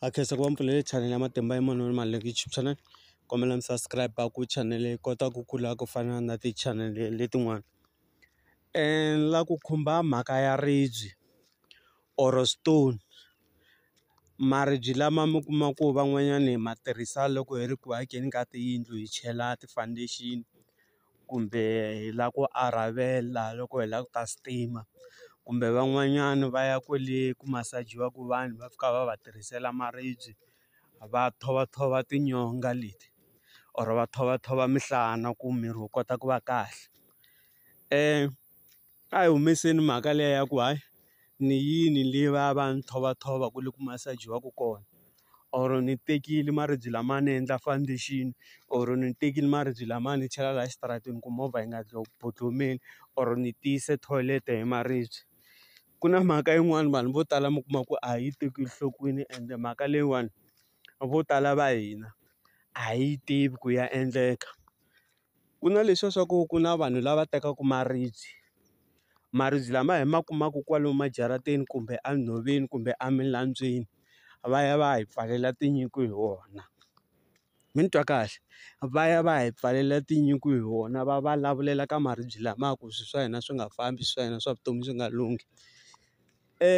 Ha khensa ku va mi pfulele channel ya matimba ya munhu mali leyi YouTube channel kombela mi subscribe ku channel yi kota ku kula ku fana na ti channel letin'wana ni la ku khumba mhaka ya ribye or stone maribye lama mi kuma ku van'wanyani hi ma tirhisa loko hi ri ku akeni ka tiyindlu hi chela ti-foundation. kumbe hi lava ku arhavela loko hi lava ku ta stima kumbe van'wanyana va ya kwale ku masajiwaku vanhu va fika va va tirhisela maribye va thova tinyonga leti or va thova thova minhlana ku miri wu kota ku va kahle . A hi humeseni mhaka liya ya ku hayi ni yini le va ya va ya ni thova-thova kwale ku masajiwaku kona or ni tekile maribye lama ni endla foundation or ni tekile maribye lama ni chela laha xitarateni ku movha yi nga bodlomeli or ni tiyise thoyilete hi maribye ku na mhaka yin'wani vanhu vo tala mi kuma ku a yi tekeli nhlokweni ende mhaka leyiwani vo tala va hina a hi yi tivi ku ya endleka. Ku na leswiya swa ku ku na vanhu lava tekaka maribye, maribye lama hi ma kumaka kwalomu majarateni kumbe enhoveni kumbe emilandzweni va ya va ya hi pfalela tinyiko hi wona. Mi ni twa kahle? Va ya va ya hi pfalela tinyiko hi wona va va lavulela ka maribye lama ku swilo swa hina swi nga fambi swilo swa hina swa vutomi swi nga lunghi.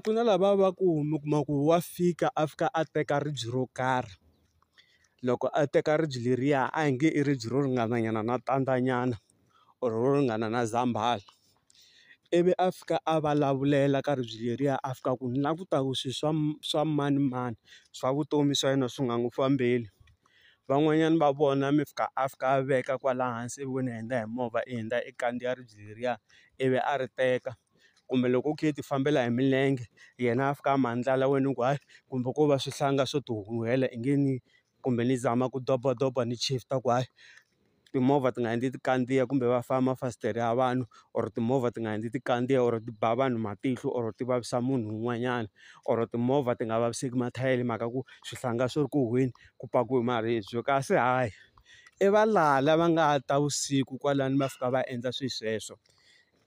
Ku na lava va ku mi kuma ku wa fika a fika a teka ribye ro karhi loko a teka ribye leriya a hi nge i ribye ro ringana nyana na tandza nyana or ro ringana na zambhala ivi a fika a valavulela ka ribye leriya a fika ku ni la ku ta ku swi swa swa mani mani swa vutomi swa yena swi nga n'wi fambeli van'wanyana va vona mi fika a fika a veka kwala hansi ivi ni hundza hi movha i hundza i kandziya ribye leriya ivi a ri teka. kumbe loko u kha u ti fambela hi milenge yena a fika a mandlhala wena u ku hayi kumbe ko va swihlanga swo ti huhela i nge ni kumbe ni zama ku dobadoba ni shift-a ku hayi timovha ti nga endli ti kandziya kumbe va famba mafasitere ya vanhu or timovha ti nga endli ti kandziya or ti ba vanhu matihlo or ti vavisa munhu un'wanyana or timovha ti nga vaviseki mathayere hi mhaka ku swihlanga swi ri ku huhweni ku pakiwe maribye kasi hayi i valala va nga ta vusiku kwalano va fika va endla swilo sweswo.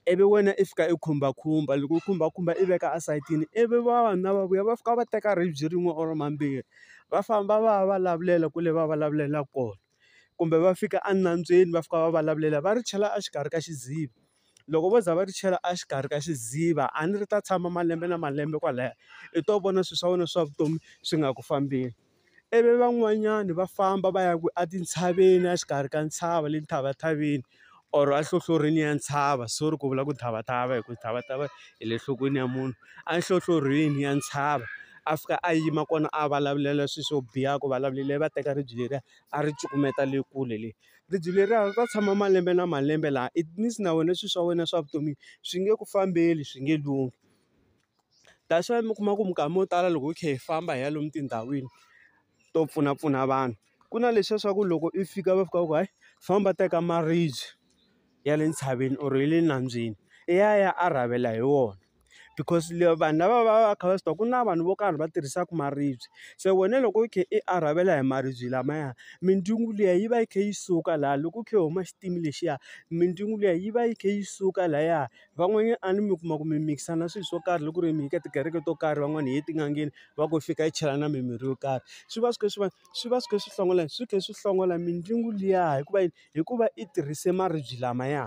ivi wena i fika i khumbakhumba loko u khumbakhumba i veka esayitini ivi vavanuna va vuya va fika va teka ribye rin'we or mambirhi va famba va ya va lavulela kwale va vulavulela kona kumbe va fika enambyeni va fika va vulavulela va ri chela exikarhi ka xidziva loko vo za va ri chela exikarhi ka xidziva a ni ri ta tshama malembe na malembe kwalaya i to vona swilo swa wena swa vutomi swi nga ku fambeli. ivi van'wanyani va famba va ya ku a tintshaveni a xikarhi ka ntshava le ntshavatshaveni or a nhlohlorhini ya ntshava sorry ku vula ku tshavathava hi ku tshavathava hi le nhlokweni ya munhu a nhlohlorhini ya ntshava a fika a yima kona a vulavulela swi swo biha ku vulavulele va teka ribye leriya a ri cukumeta le kule le, ribye leriya ri ta tshama malembe na malembe laha it means na wena swilo swa wena swa vutomi swi nge ku fambeli swi nge lunghi. That's why mi kuma ku minkama yo tala loko hi kha hi famba hi ya lomu tindhawini to pfunapfuna vanhu, ku na leswiya swa ku loko i fika va fika va ku hayi famba teka maribye ya le ntshaveni or ya le nambyeni i ya i ya a rhavela hi wona. Because vanhu lava va va va kha va swi tiva ku na vanhu vo karhi va tirhisaka maribye, se wena loko u kha i a rhavela hi maribye lamaya mindzungu liya yi va yi kha yi suka laha loko u kha u huma xitini lexiya mindzungu liya yi va yi kha yi suka lahaya Van'wanyana a ni mi kuma ku mi mikisa na swilo swo karhi loko ku ri mi ye ka tikereke to karhi van'wani hi ye tin'angeni va ku fika hi chela na mimirhi yo karhi swi va swi kha swi va swi va swi kha swi hlongola yini swi kha swi hlongola mindyangu liya hikuva yini hikuva i tirhise maribye lamaya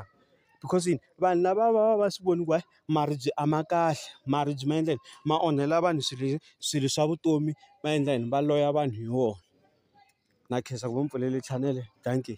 because yini vanhu lava va va va swi voni ku hayi maribye a ma kahle maribye ma endla yini ma onhela vanhu swilo swilo swa vutomi va endla yini va loya vanhu hi wona na khensa ku va ni pfulele chanele dankie.